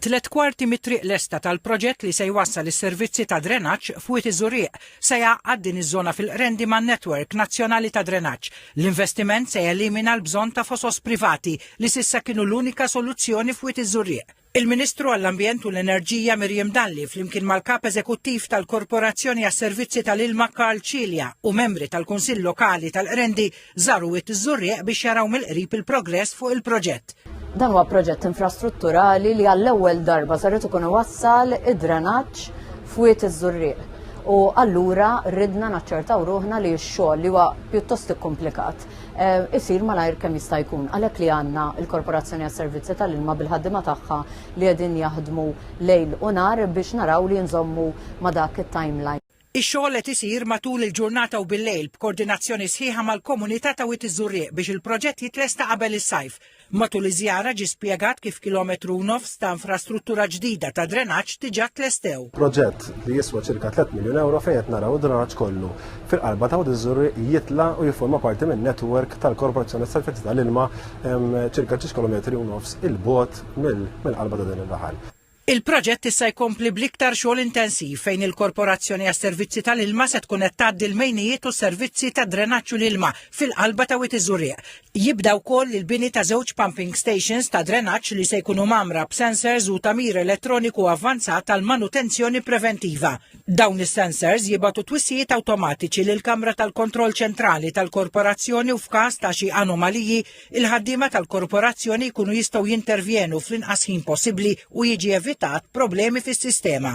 Tliet kwarti mit-triq lesta tal-proġett li se jwassal is-servizzi ta' drenaġġ f'Wied iż-Żurrieq se jgħaqqad din iż-żona fil-Qrendi man-network nazzjonali ta' drenaġġ. L-investiment se jelimina l-bżonn ta' fosos privati li s'issa kienu l-unika soluzzjoni f'Wied iż-Żurrieq. Il-Ministru għall-Ambjent u l-Enerġija Miriam Dalli flimkien mal-Kap Eżekuttiv tal-Korporazzjoni għas-Servizzi tal-Ilma Karl Cilia u membri tal-Kunsill Lokali tal-Qrendi Żaru Wied iż-Żurrieq biex jaraw mill-qrib il-progress fuq il-proġett. Dan huwa proġett infrastrutturali li għall-ewwel darba sar irid ikun iwassal id-drenaġġ f'Wied iż-Żurrieq. U allura ridna naċċertaw ruħna li x-xogħol li huwa pjuttost ikkumplikat eh, isir malajr kemm jista' jkun. Għalhekk li għandna l-Korporazzjoni għas-Servizzi tal-Ilma bil-ħaddiema tagħha li qegħdin jaħdmu lejl u nar biex naraw li nżommu ma' dak it-timeline. Ix-xogħol qed isir matul il-ġurnata u bil-lejl b'kordinazzjoni sħiħa mal-komunità ta' Wied iż-Żurrieq biex il-proġett jitlesta qabel is-sajf. Matul iż-żjara ġie spjegat kif kilometru u nofs ta' infrastruttura ġdida ta' drenaġġ diġà tlestew. Proġett li jiswa ċirka tliet miljun ewro fejn qed naraw id-drenaġġ kollu fil-qalba ta' Wied iż-Żurrieq jitla' u jifforma parti minn network tal-Korporazzjoni għas-Servizzi tal-Ilma ċirka ġiex kilometri u nofs 'il bogħod mill-qalba ta' dan ir-raħal. Il-proġett issa jkompli bl-iktar xogħol intensiv fejn il-Korporazzjoni għas-Servizzi tal-Ilma se tkun qed tgħaddi l-mejnijiet u s-servizzi ta' drenaġġ u l-ilma fil-qalba ta' Wied iż-Żurrieq. Jibda wkoll il-bini ta' żewġ pumping stations ta' drenaġġ li se jkunu mgħammra b'sensors u tagħmir elettroniku avvanzat għall-manutenzjoni preventiva. Dawn is-sensors jibgħatu twissijiet awtomatiċi lill-kamra tal-kontroll ċentrali tal-Korporazzjoni u f'każ ta' xi anomaliji il-ħaddiema tal-korporazzjoni jkunu jistgħu jintervjenu fl-inqas ħin possibbli u jiġi evitat problemi fis-sistema.